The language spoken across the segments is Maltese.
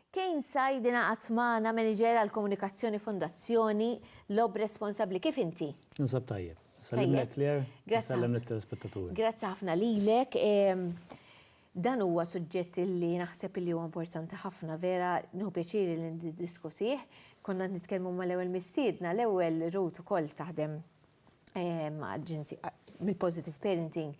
Kane Said ingħaqad magħna, Manager għall-Komunikazzjoni Fondazzjoni Lob Responsabbli. Kif inti? Ninsab tajjeb. Nsellimlek Claire, nsellem lit-telespettaturi. Grazzi ħafna lilek. Dan huwa suġġett li naħseb li huwa importanti ħafna vera, nieħu pjaċir li niddiskutih. Konna qed nitkellmu mal-ewwel mistiedna, l-ewwel Ruth ukoll taħdem mill-positive parenting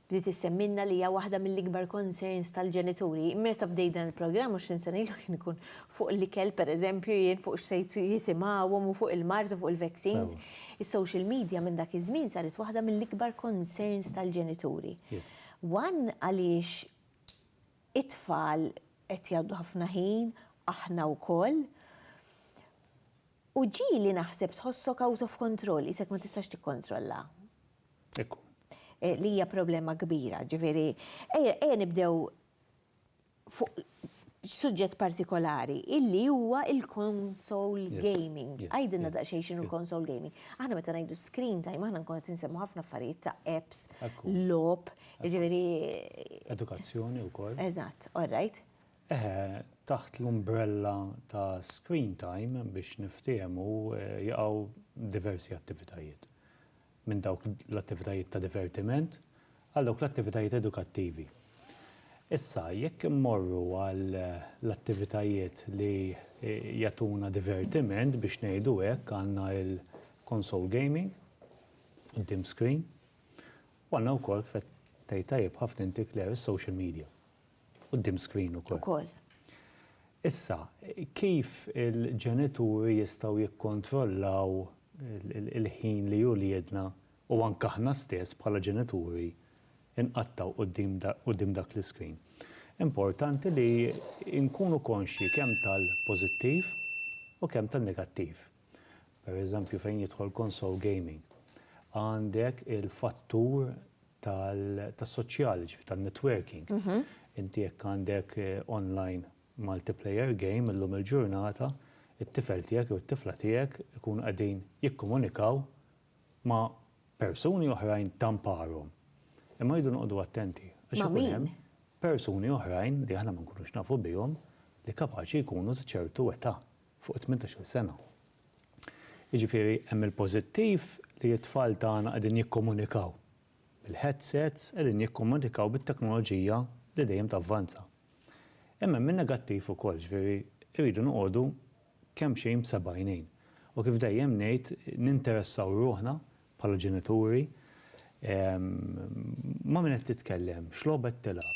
li tissemminna li hija waħda mill-ikbar concerns tal-ġenituri. Meta bdej dan il-programm u x'in sena ilu kien ikun fuq l-ikel pereżempju jien fuq x'sejt jisimgħuhom u fuq il-mard u fuq il-vaccines. Is-social media minn dak iż-żmien saret waħda mill-ikbar concerns tal-ġenituri. One għaliex it-tfal qed jgħaddu ħafna ħin, aħna wkoll, U ġieli naħseb tħossok out of control, qisek ma tistax tikkontrolla. Ekku. Li hija problema kbira, ġifieri, ejja nibdew fuq suġġett partikolari, illi huwa il-console gaming. Għidilna daqsxejn x'inhu l-console gaming. Aħna meta ngħidu screen time, aħna nkunu qed insemmu ħafna affarijiet ta' apps, logħob, jiġifieri. Edukazzjoni wkoll. Eżatt, all right. Eħe, taħt l-umbrella ta' screen time, biex niftiehmu, jaqgħu diversi attivitajiet. Minn dawk l-attivitajiet ta' divertiment għal dawk l-attivitajiet edukattivi. Issa, jekk immorru għal l-attivitajiet li jagħtuna divertiment, biex ngħidu hekk, għandna l-console gaming, quddiem screen, u għandna wkoll, kif qed tgħid tajjeb ħafna inti Claire, is-social media. Quddiem screen ukoll. Ukoll. Issa, kif il-ġenituri jistgħu jikkontrollaw il-ħin li uliedna u anke aħna stess bħala ġenituri nqattgħu quddiem dak l-iscreen? Importanti li nkunu konxji kemm tal-pożittiv u kemm tan-negattiv. per eżempju fejn jidħol konsol gaming, għandek il-fattur tas-soċjali, ġifieri tan-networking. Inti jekk għandek online multiplayer game illum il-ġurnata, it-tifel tiegħek jew it-tifla tiegħek ikunu qegħdin jikkomunikaw ma' persuni oħrajn ta' mparhom. Imma rridu noqogħdu attenti għax ikun hemm persuni oħrajn li aħna ma nkunux nafu bihom li kapaċi jkunu ta' ċertu età. fuq it-tmintax-il sena. Jiġifieri hemm il-pożittiv li t-tfal tagħna qegħdin jikkomunikaw bil-headsets, qegħdin jikkomunikaw bit-teknoloġija li dejjem tavvanza. Imma hemm in-negattiv ukoll, jiġifieri rridu noqogħdu kemmxejn b'seb'għajnejn. U kif dejjem ngħid, ninteressaw ruħna bħala ġenituri ma' min qed titkellem, x'logħba qed tilgħab.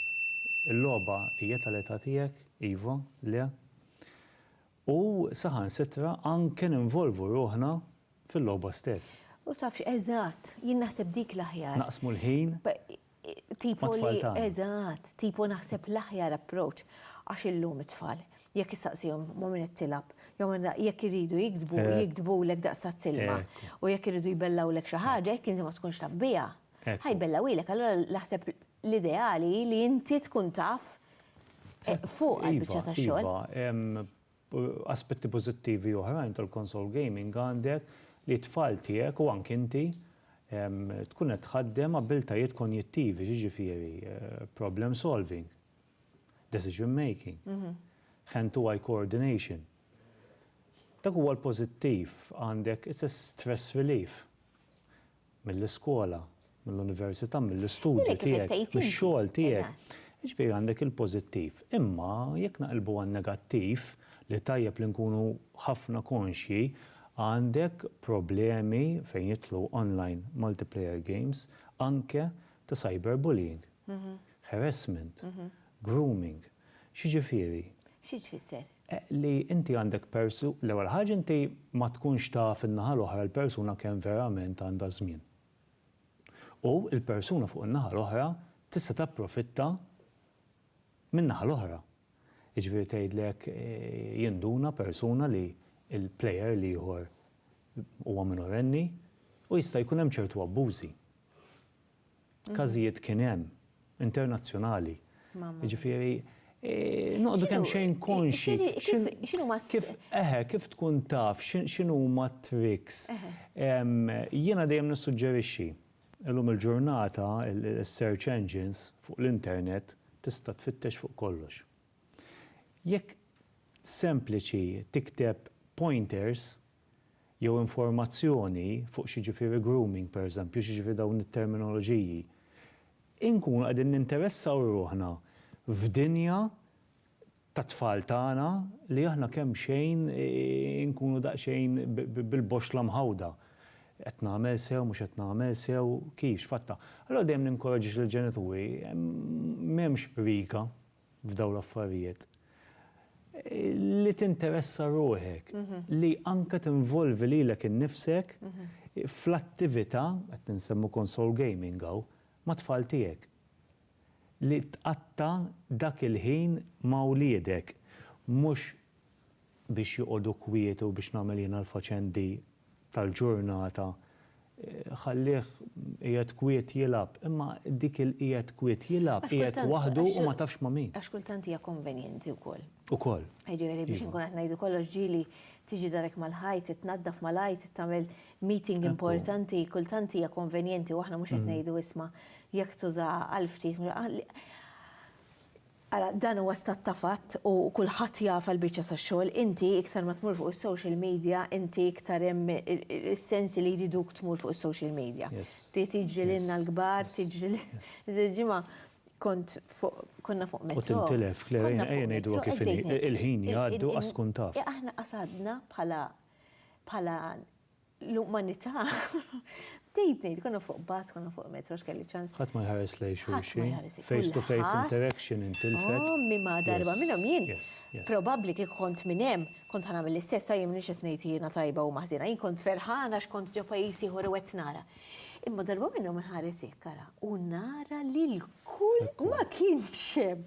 Il-logħba hija tal-età tiegħek? Iva? Le? u saħansitra anke ninvolvu ruħna fil-logħba stess. U tafx, eżatt, jien naħseb dik l-aħjar. Naqsmu l-ħin mat-tfal tagħna. Eżatt, tipo naħseb l-aħjar approach għax illum it-tfal jekk issaqsihom ma' min qed tilgħab jew jekk iridu jiktbu, jiktbulek daqs tazz ilma u jekk iridu jbellgħulek xi ħaġa jekk inti ma tkunx taf biha, ħa jbellgħuhielek. Allura naħseb l-ideali hi li inti tkun taf fuq għal-biċċa ta' xogħol. Iva, iva, aspetti pożittivi oħrajn tal-konsol gaming għandek li t-tfal tiegħek u anke inti tkun qed tħaddem abbiltajiet konjittivi, jiġifieri problem solving, decision making, hand to eye coordination. Dak huwa l-pożittiv għandek, it's a stress relief. mill-iskola, mill-università, mill-istudju tiegħek, mix-xogħol tiegħek. Jiġifieri għandek il-pożittiv. Imma jekk naqilbu għan-negattiv, li tajjeb li nkunu ħafna konxji, għandek problemi fejn jidħlu online multiplayer games anke ta' cyberbullying, harassment, grooming. X'jiġifieri? Xi tfisser? li inti għandek persu, l-ewwel ħaġa inti ma tkunx taf in-naħa l-oħra l-persuna kemm verament għandha żmien. U l-persuna fuq in-naħa l-oħra tista' tapprofitta min-naħa l-oħra. Jiġifieri tgħidlek jinduna persuna li l-player l-ieħor huwa minorenni u jista' jkun hemm ċertu abbużi. każijiet kien hemm, internazzjonali. Jiġifieri noqogħdu kemmxejn konxi. X'inhuma kif eħe, kif tkun taf x'inhuma t-tricks. Jiena dejjem nissuġġerixxi illum il-ġurnata is-search engines fuq l-internet tista' tfittex fuq kollox. Jekk sempliċi tikteb pointers jew informazzjoni fuq x'jiġifieri grooming pereżempju, x'jiġifieri dawn it-terminoloġiji, inkunu qegħdin ninteressaw ruħna f'dinja tat-tfal tagħna li aħna kemxejn inkunu daqsxejn bil-boxxla mħawda. Qed nagħmel sew, mhux qed nagħmel sew, kif, x'fatta. Allura dejjem ninkoraġġixxi lill-ġenituri, m'hemmx riga. f'dawn l-affarijiet li tinteressa ruħek, li anke tinvolvi lilek innifsek fl-attività, qed insemmu console gaming hawn, mat-tfal tiegħek. Li tqatta' dak il-ħin ma' wliedek, mhux biex joqogħdu kwiet u biex nagħmel jiena l-faċendi tal-ġurnata, ħallih qiegħed kwiet jilgħab. Imma dik il-qiegħed kwiet jilgħab, qiegħed waħdu u ma tafx ma' min. Għax kultant hija konvenjenti wkoll. Ukoll. Jiġifieri biex inkun qed ngħidu kollox ġieli tiġi darek mal-ħajt, tnaddaf mal-ħajt, tagħmel meeting importanti, kultant hija konvenjenti u aħna mhux qed ngħidu isma' jekk tużaha għal ftit Ara, dan huwa stat ta' fatt u kulħadd jaf għall-biċċa tax-xogħol. Inti iktar ma tmur fuq is-social media, inti iktar hemm is-sensi li jriduk tmur fuq is-social media. Tiġri lilna l-kbar, tiġri lil. Il-ġimgħa kont fuq, konna fuq metro. U tintilef, Claire, ejja ngħiduha kif inhi, il-ħin jgħaddi u qas tkun taf. Aħna qas għadna bħala l-umanità. Bdejt ngħid, konna fuq bus, konna fuq metro, x'kelli ċans. Ħadd ma jħares lej xulxin. Face to face interaction intilfet. Ommi ma darba minnhom jien. Probabbli kieku kont minn hemm, kont ħanagħmel l-istess, jien m'iniex qed ngħid jiena tajba u maħżiena, jien kont ferħana x'kont ġo pajjiż ieħor u qed nara. Imma darba minnhom inħares hekk ara u nara li l-kull ma kienx hemm.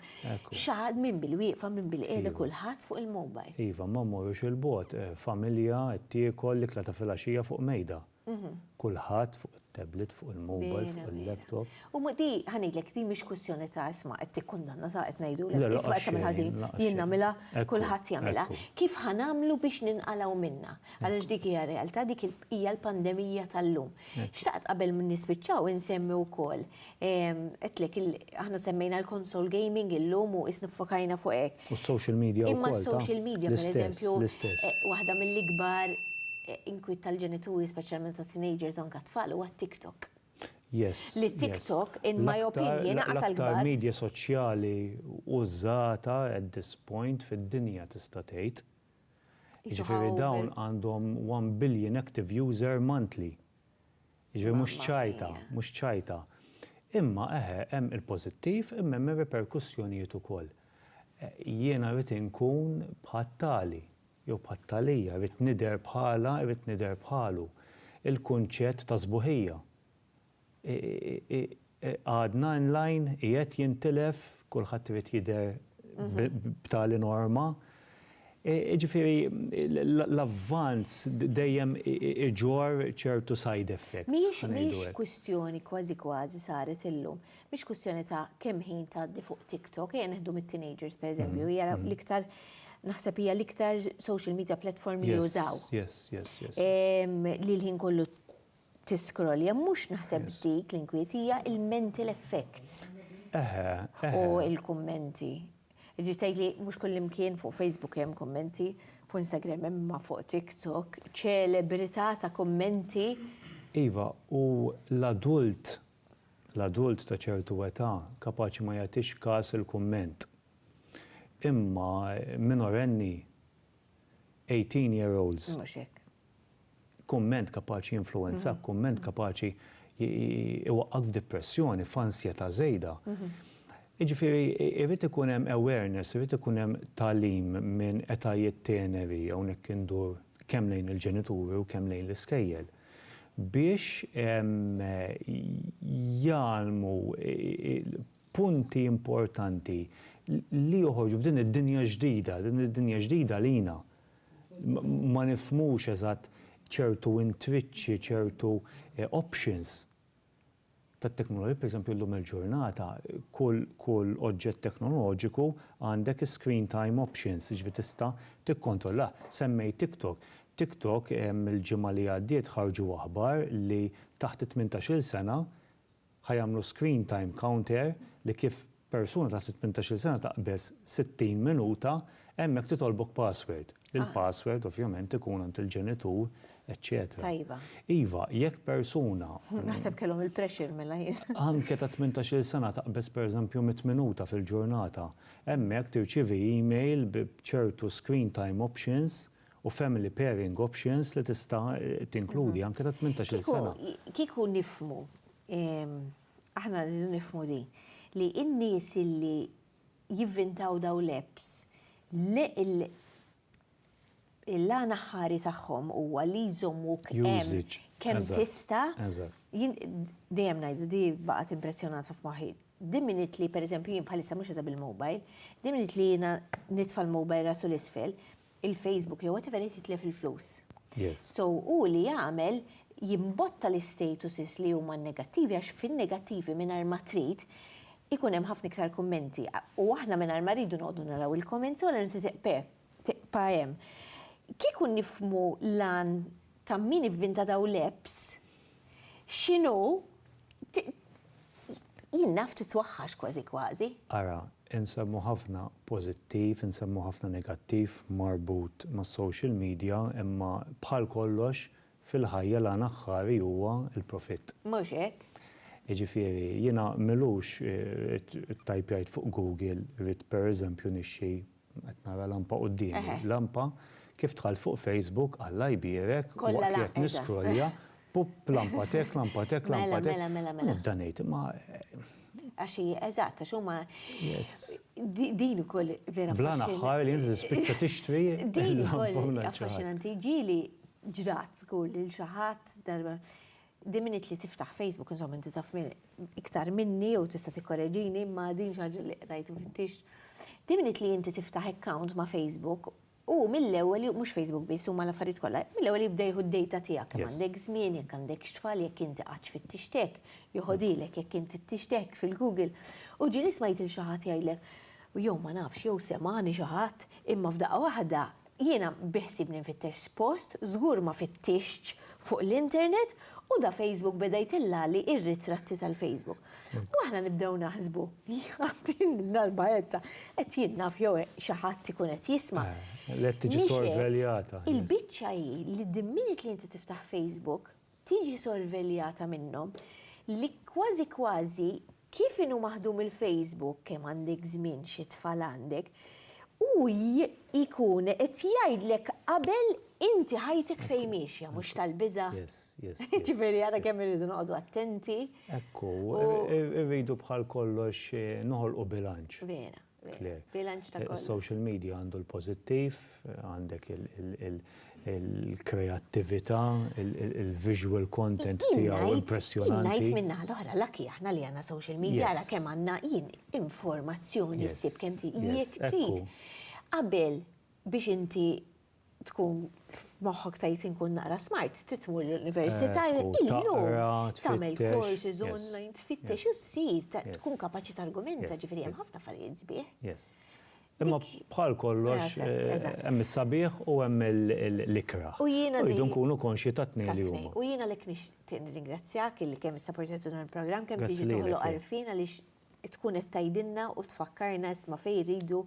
Xaħad minn bil-wieqfa minn bil-qiegħda iva. kulħadd fuq il-mobile. Iva, ma mmorrux il-bot, eh, familja qed tiekol l-ikla ta' filgħaxija fuq mejda. Mhm. Kulħadd fuq it-tablet, fuq il-mobile, fuq il-laptop. U mhu di, ħa ngħidlek, di mhix kwistjoni ta' isma' qed tikkundanna ta' qed ngħidulek, isma' qed tagħmel ħażin, jien nagħmilha, kulħadd jagħmilha. Kif ħa nagħmlu biex ninqalgħu minnha? Għaliex dik hija r-realtà, dik hija l-pandemija tal-lum. Xtaqt qabel ma nispiċċaw insemmi wkoll, għedtlek, aħna semmejna l-konsol gaming illum u qisna ffokajna fuq hekk. U s-social media wkoll. Imma s-social media, pereżempju, waħda mill-ikbar inkwiet tal-ġenituri, speċjalment tat-teenagers u anke t-tfal, huwa t-TikTok. li TikTok, in my opinion, għas għall-kbar. L-aktar media soċjali użata at this point fid-dinja tista' tgħid. Jiġifieri dawn għandhom one billion active user monthly. Jiġifieri mhux ċajta, mhux ċajta. Imma eħe, hemm il-pożittiv imma hemm ir-riperkussjonijiet ukoll. Jiena rrid inkun bħat-tali. jew bħat-tagħlija, irrid nidher bħalha, irrid nidher bħalu. Il-kunċett ta' sbuħija għadna in line, qiegħed jintilef, kulħadd irid jidher b'tali norma. Jiġifieri l-avvanz dejjem iġorr ċertu side effects. Mhijiex kwistjoni kważi kważi saret illum. Mhix kwistjoni ta' kemm ħin tgħaddi fuq TikTok, ejja neħdu mit-teenagers pereżempju, hija l-iktar naħseb hija l-iktar social media platform li jużaw. Yes, yes, yes. Li l-ħin kollu tiskrolja, mhux naħseb dik l-inkwiet hija il-mental effects. Eħe, eħe. U il-kummenti. Ġi tgħid li mhux kullimkien fuq Facebook hemm kummenti, fuq Instagram hemm ma fuq TikTok, ċelebrità ta' kummenti. Iva, u l-adult l-adult ta' ċertu età kapaċi ma jagħtix kas il-kumment. Imma minorenni, eighteen year olds, kumment kapaċi jinfluwenzak, kumment kapaċi jwaqqgħek f'dipressjoni, f'ansjetà żejda. Jiġifieri jrid ikun hemm awareness, irid ikun hemm tagħlim minn etajiet teneri, hawnhekk indur kemm lejn il-ġenituri u kemm lejn l-iskejjel. biex jgħallmu punti importanti li joħorġu f'din id-dinja ġdida, din id-dinja ġdida għalina. Ma nifhmux eżatt ċertu intriċċi, ċertu options. tat-teknoloġija, pereżempju llum il-ġurnata kull kull oġġett teknoloġiku għandek is-screen time options, jiġifieri tista' tikkontrollah. Semmejt TikTok. TikTok il-ġimgħa li għaddiet ħarġu aħbar li taħt it-tmintax-il sena ħa jagħmlu screen time counter li kif Persuna taħt it-tmintax-il sena taqbeż 60 minuta hemmhekk titolbok password. Il-password ovvjament ikun għand il-ġenitur, eċċetera. Tajba. Iva, jekk persuna. Naħseb kellhom il-pressure mela jien. Anke ta' tmintax-il sena taqbeż pereżempju mitt minuta fil-ġurnata. Hemmhekk tirċievi email b'ċertu screen time options u family pairing options li tista' tinkludi anke ta' tmintax-il sena. Kieku, kieku nifhmu, Aħna rridu nifhmu din, li n-nies li jivvintaw dawn l-apps, l-għan aħħari tagħhom huwa li jżommuk hemm kemm tista'. Dejjem ngħid, di baqgħet impressjonata f'moħħi. Di minute li pereżempju jien bħalissa mhux qiegħda bil-mobile, di minute li jiena nitfa' l-mobile rasu 'l isfel, il-Facebook jew whatever irid jitlef il-flus. So hu li jagħmel jimbotta l-istatuses li huma negattivi għax fin-negattivi mingħajr ma trid ikun hemm ħafna iktar kummenti u aħna mingħajr ma rridu noqogħdu naraw il-comments u allura inti tiqpa' hemm. Kieku nifhmu l-għan ta' min ivvinta dawn l-apps, x'inhu jien naf titwaħħax kważi kważi. Ara, insemmu ħafna pożittiv, insemmu ħafna negattiv marbut mas-social media imma bħal kollox fil-ħajja l-għan aħħari huwa l-profitt. Mhux hekk? Jiġifieri jiena m'ilux ittajpjajt fuq Google rrid pereżempju nixtri Qed nara lampa quddiemi. Lampa, kif dħalt fuq Facebook, Alla jbierek, waqt li qed niscrollja, pupp, lampa t'hekk, lampa t'hekk, lampa t'hekk. Mela, mela, mela. U nibda ngħid, imma. Għax hi, eżatt, għax huma. Yes. Din ukoll vera. Bla naħħar li inti tispiċċa tixtri. Din ukoll affaxxinanti. Ġieli ġrat żgur lil xi ħadd darba. Din miniet li tiftaħ Facebook, insomma inti taf iktar minni jew tista' tikkoreġini imma din xi ħaġa li qrajt u fittixt. Din miniet li inti tiftaħ account ma' Facebook u mill-ewwel mhux Facebook biss huma l-affarijiet kollha, mill-ewwel jibda jieħu d-dejta tiegħek kemm għandek żmien, jekk għandekx tfal, jekk inti qattx fittixtek, joħodilek jekk int fittixtek fil-Google. U ġieli smajt lil xi ħadd jgħidlek, jew ma nafx, jew semagħni xi ħadd, imma f'daqqa waħda Jiena biħsibni nfittex post, żgur ma fittixtx fuq l-internet u da Facebook beda jtellagħli ir-ritratti tal-Facebook. U aħna nibdew naħsbu, din darba qed qed jien naf jew xi ħadd ikun qed jisma'. Qed tiġi sorveljata. Il-biċċa hi li the minute li inti tiftaħ Facebook, tiġi sorveljata minnhom li kważi kważi kif inhu maħdum il-Facebook, kemm għandek żmien, xi tfal għandek, hu jkun qed jgħidlek qabel inti ħajtek fejn miexja, mhux tal-biża'? Jiġifieri ara kemm irridu noqogħdu attenti. Ekku, irridu bħal kollox noħolqu bilanċ. Vera. Bilanċ ta' kollox. Is-social media għandu l-pożittiv, għandek il-kreattività, il-visual content tiegħu impressjonanti. Jien ngħid min-naħa l-oħra, lucky aħna li għandna social media għala kemm għandna jien informazzjoni ssib kemm trid. Qabel biex inti tkun f'moħħok tgħid inkun naqra smart, titmur l-università, illum tagħmel courses online, tfittex u ssir, tkun kapaċi targumenta, ġifieri hemm ħafna affarijiet sbieħ. Imma bħal kollox hemm is-sabiħ u hemm l-ikra. U jiena rridu nkunu konxji tat-tnejn li huma. U jiena lek nixtieq nirringrazzjak illi kemm issa portajtuna l-programm kemm tiġi toħloq għarfien għaliex tkun qed tgħidilna u tfakkarna isma' fejn irridu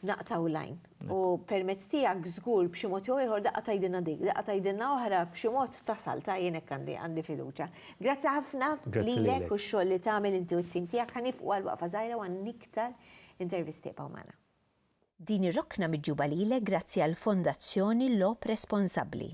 naqtaw lajn. U permezz tiegħek żgur b'xi mod jew ieħor daqqa tgħidilna dik, daqqa tgħidilna oħra b'xi mod tasal ta' jien hekk għandi għandi fiduċja. Grazzi ħafna lilek u x-xogħol li tagħmel inti u t-tim tiegħek ħa nifqu għal waqfa żgħira u għal iktar intervisti ibqgħu magħna. Din ir-rokna miġjuba lilek grazzi għall-Fondazzjoni Logħob Responsabbli.